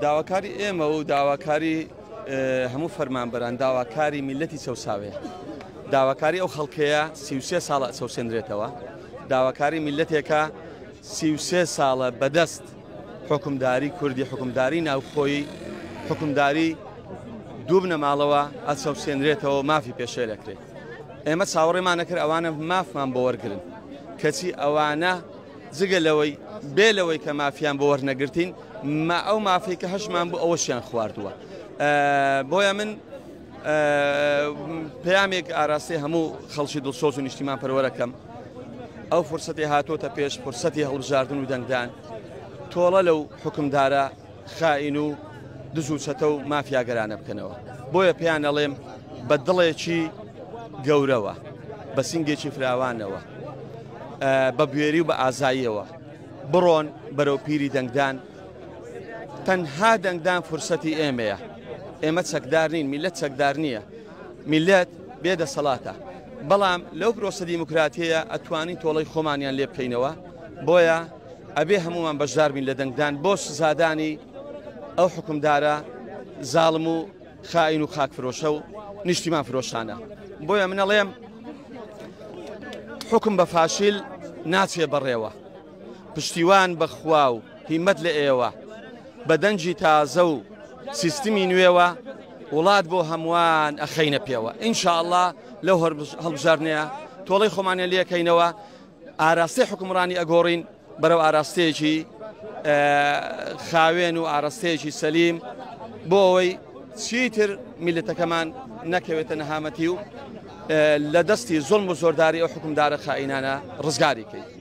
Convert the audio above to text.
داواکاری ئێمە و داواکاری هەموو فەرمانبەران داواکاری میلەتی چەساوەیە داواکاری ئەو خەڵکەیە سیوسێ ساڵە چەسێنرێتەوە داواکاری میلەتێکە سیوسێ ساڵە بەدەست حکومداری کوردی حکومداری ناوخۆی حکومداری دوو بنەماڵەوە ئەچەسێنرێتەوە مافی پێشێ دەکرێت ئێمە چاوەڕێمانەکرد ئەوانە مافمان بۆ وەرگن کەچی ئەوانە جگە لەوەی بێ لەوەی کە مافیان بۆ وەرنەگرتین ما ئەو مافی کە هەشمان بوو ئەوەشیان خواردووە بۆیە من پامێک ئاراستەی هەموو خەڵکی دڵسۆز و نیشتیمان پەروەەکەم ئەو فرسەتی هاتۆتە پێش فرسەتی هەڵبژاردن و دەنگدان تۆڵە لەو حکمدارە خائین و دز و چەتە و مافیاگەرانە بکەنەوە بۆیە پێیان ئەڵێم بە دڵێکی گەورەوە بە سنگێکی فراوانەوە بە بوێری و بە ئازاییەوە بڕۆن بەرەو پیری دەنگدان تەنها دەنگدان فرسەتی ئێمەیە ئێمە چەکدار نین میلەت چەکدار نییە میلەت بێ دەسەڵاتە بەڵام لەو پرۆسە دیموکراتیە ئەتوانی تۆڵی خۆمانیان لێ بکەینەوە بۆیە ئەبێ هەمووان بەشداربین لە دەنگدان بۆ سزادانی ئەو حکومدارە زاڵم و خائین و خاک فرۆشە و نیشتیمان فرۆشانە بۆیە منەڵێم حکم بە فاشیل ناچێ بەڕێوە پشتیوان بەخوا و هیمەت لە ئێوە بە دەنجی تازە و سیستمی نوێوە وڵات بۆ هەمووان ئەخینە پێوە ئینشاءله لەو هەڵبژارنەیە تۆڵی خۆمانە لەکەینەوە ئاراستەی حوکمڕانی ئەگۆڕین بەرەو ئاراستەیەکی خاوێن و ئاراستەیەکی سەلیم بۆ ئەوەی چیتر میلەتەکەمان نەکەوێتە نەهامەتی و لە دەستی زۆڵم و زۆرداری ئەو حکومدارە خائینانە ڕزگاری کەیت